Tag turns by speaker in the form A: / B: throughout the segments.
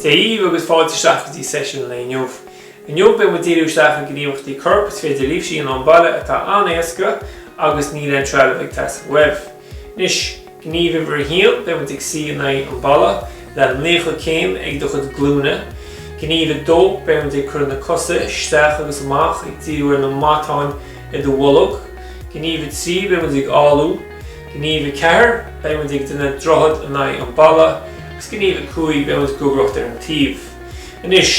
A: Dia dhaoibh agus fáilte isteach go dtí seisiún an lae inniu. Inniu beidh muid ag díriú isteach ar gníomhaíochtaí coirp, is féidir libhse a dhéanamh sa mbaile atá an-éasca agus níl aon trealamh ag teastáil uaibh. Anois, gníomh uimhir a haon, beidh muid ag suí in aghaidh an bhalla, le 90 céim ag do chuid glúine. Gníomh a dó, beidh muid ag cur na cosa isteach agus amach, ag díriú ar na matáin, I do bholg, Gníomh 3, Beidh muid ag áladh, Gníomh 4, Beidh muid ag déanamh droichead in aghaidh an bhalla agus Gníomh 5, Beidh muid ag gogaireacht ar an taobh. Anois,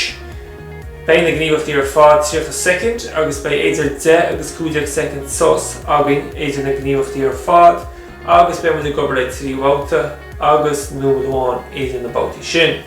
A: beidh na gníomhaíochtaí ar fad 30 soicind agus beidh idir 10 agus 15 soicind sos againn idir na gníomhaíochtaí ar fad agus beidh muid ag obair le trí bhabhta agus nóiméad amháin idir na babhtaí sin.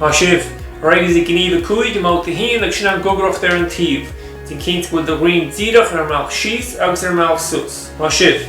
A: Maith sibh! Ar aghaidh linn i Gníomh 5 i mBabhta 1 agus sin an Gogaireacht ar an Taobh. Déan cinnte go bhfuil do dhroim díreach ar an mbealach síos agus ar an mbealach suas. Maith sibh!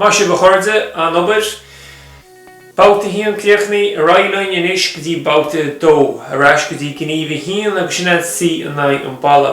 A: Maith sibh a chairde, an-obair! Babhta 1 críochnaithe, ar aghaidh linn anois go dtí Babhta 2, ar ais go dtí Gníomh 1 agus sin é an suí in aghaidh an bhalla.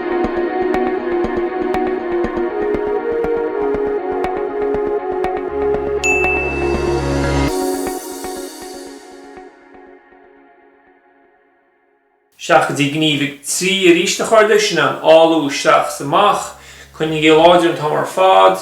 A: Isteach go dtí Gníomh 3 arís a chairde, sin an áladh isteach is amach, coinnigí láidir an t-am ar fad.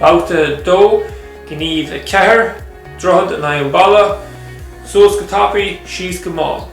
A: Babhta 2, Gníomh 4, Droichead in aghaidh an bhalla, suas go tapaidh, síos go mall.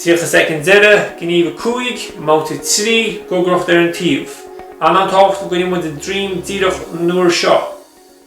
A: 30 soicind deiridh, Gníomh 5, i mBabhta 3, Gogaireacht ar an taobh. An-tábhachtach go gcoinneoidh muid an droim díreach an uair seo.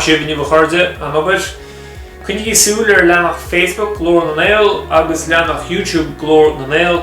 A: Maith sibh inniu a chairde, an obair. Coinnigí súil ar leathanach Facebook Glór na nGael agus leathanach YouTube Glór na nGael